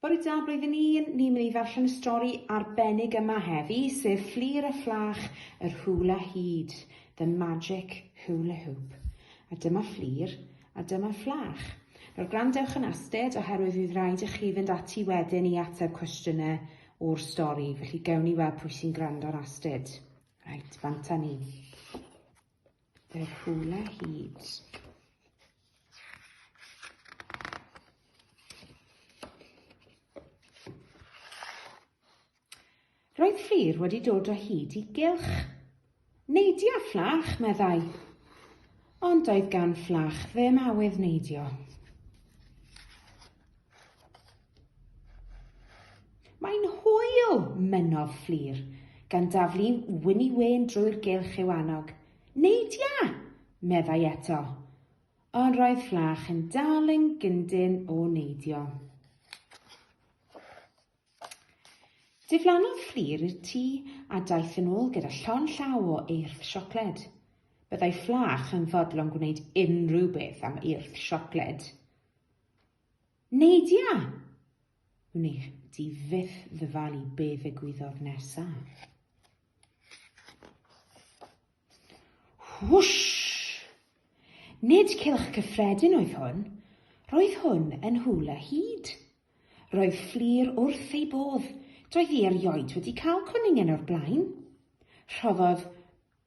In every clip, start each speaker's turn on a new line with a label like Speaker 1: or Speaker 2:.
Speaker 1: Bore da blwyddyn un, ni'n mynd i ddarllen y stori arbennig yma heddi, sef Fflir a Phlach yr Hwla Hud, The Magic Hula Hoop. A dyma Fflir, a dyma Phlach. Nawr gwrandewch yn astud oherwydd fydd rhaid i chi fynd ati wedyn i ateb cwestiynau o'r stori, felly gewn ni weld pwy sy'n gwrando'n astud. Reit, bant â ni. y rhwle hyd. Roedd Fflur wedi dod o hyd i gylch. Neidio fflach, meddai. Ond doedd gan fflach ddim awydd neidio. Mae'n hwyl, mynnodd Fflur, gan daflu Wini Wen drwy'r gylch i'w annog. Neidia! meddai eto. Ond roedd Fflach yn dal yn gyndyn o neidio. Diflannodd Fflur i'r tŷ a daeth yn ôl gyda llon llaw o eirth siocled. Byddai Fflach yn fodlon gwneud unrhyw beth am eirth siocled. Nadia! Wne di fyth ddyfalu be ddigwyddodd nesaf. Whoosh! Nid cylch cyffredin oedd hwn. Roedd hwn yn hula hyd. Roedd fflir wrth ei bodd, doedd hi erioed wedi cael cwningen o'r blaen. Rhoddodd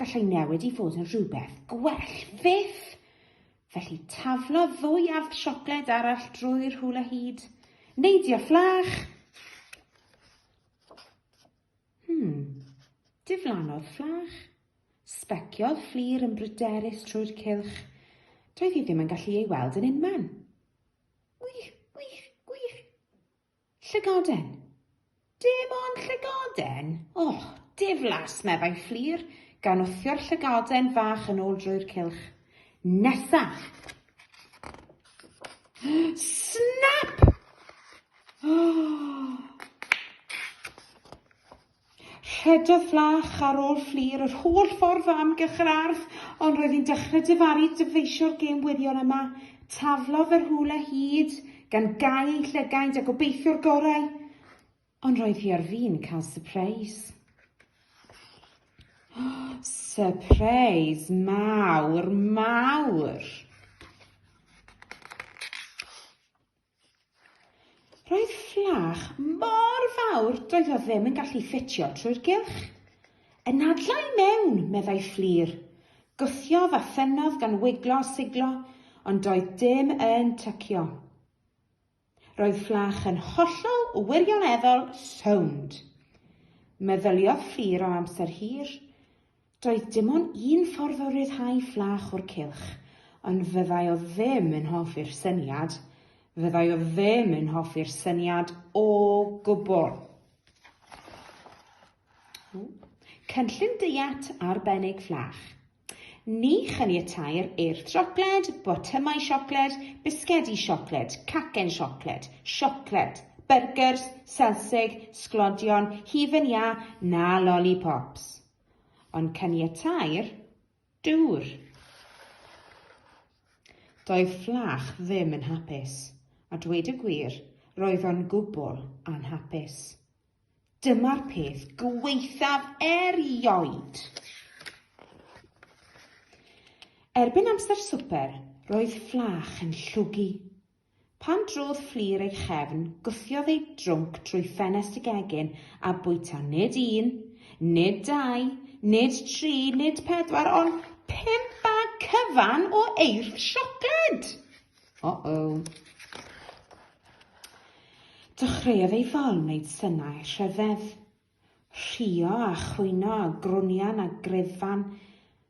Speaker 1: Gallai newid i fod yn rhywbeth gwell fyth! Felly taflo ddwy arth siocled arall drwy'r hula hyd. Neidio fflach! Hmm, diflannodd fflach. Sbeciodd fflir yn bryderus trwy'r cylch. Doedd hi ddim yn gallu ei weld yn unman. Llygoden! Dim ond llygoden? O, diflas! meddai Fflur, gan wthio'r llygoden fach yn ôl drwy'r cylch. Nesa! Snap! Rhedodd Flach ar ôl Fflur yr holl ffordd o amgylch yr ardd, ond roedd hi'n dechrau difaru dyfeisio'r gêm wirion yma. Taflodd fe rhywle hyd, gan gau ei llygaid a gobeithio'r gorau, ond roedd hi ar fin cael sypreis. Sypreis mawr, mawr! Roedd fflach mor fawr doedd o ddim yn gallu ffitio trwy'r gylch. Y nadla i mewn, meddai Fflur. Gwthiodd a thynnodd gan wiglo a siglo, ond doedd dim yn tycio. Roedd fflach yn hollol wirioneddol sownd. Meddyliodd Fflur am amser hir. Doedd dim ond un ffordd o ryddhau fflach o'r cylch, ond fyddai o ddim yn hoffi'r syniad, fyddai o ddim yn hoffi'r syniad o gwbl. Cynllun deiet arbennig fflach. Ni chaniateir eirth siocled, botymau siocled, bisgedi siocled, cacen siocled, siocled, byrgers, selsig, sglodion, hufen iâ na lollipops. Ond caniatai'r dŵr. Doedd Fflach ddim yn hapus, a dweud y gwir, roedd o'n gwbl anhapus. Dyma'r peth gwaethaf erioed! Erbyn amser swper, roedd Fflach yn llwgu. Pan drodd Fflur ei chefn, gwthiodd ei drwnc trwy ffenest y gegin a bwyta nid un, nid dau, nid tri, nid pedwar, ond pump bag cyfan o eirth siocled! O-o! Dechreuodd ei fol wneud synau rhyfedd. Rhuo a chwyno a grwnian a grefan.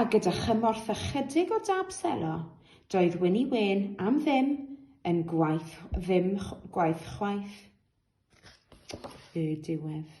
Speaker 1: A gyda chymorth ychydig o dab selo, doedd Wini Wen am ddim yn gwaith ddim gwaith chwaith. Y diwedd.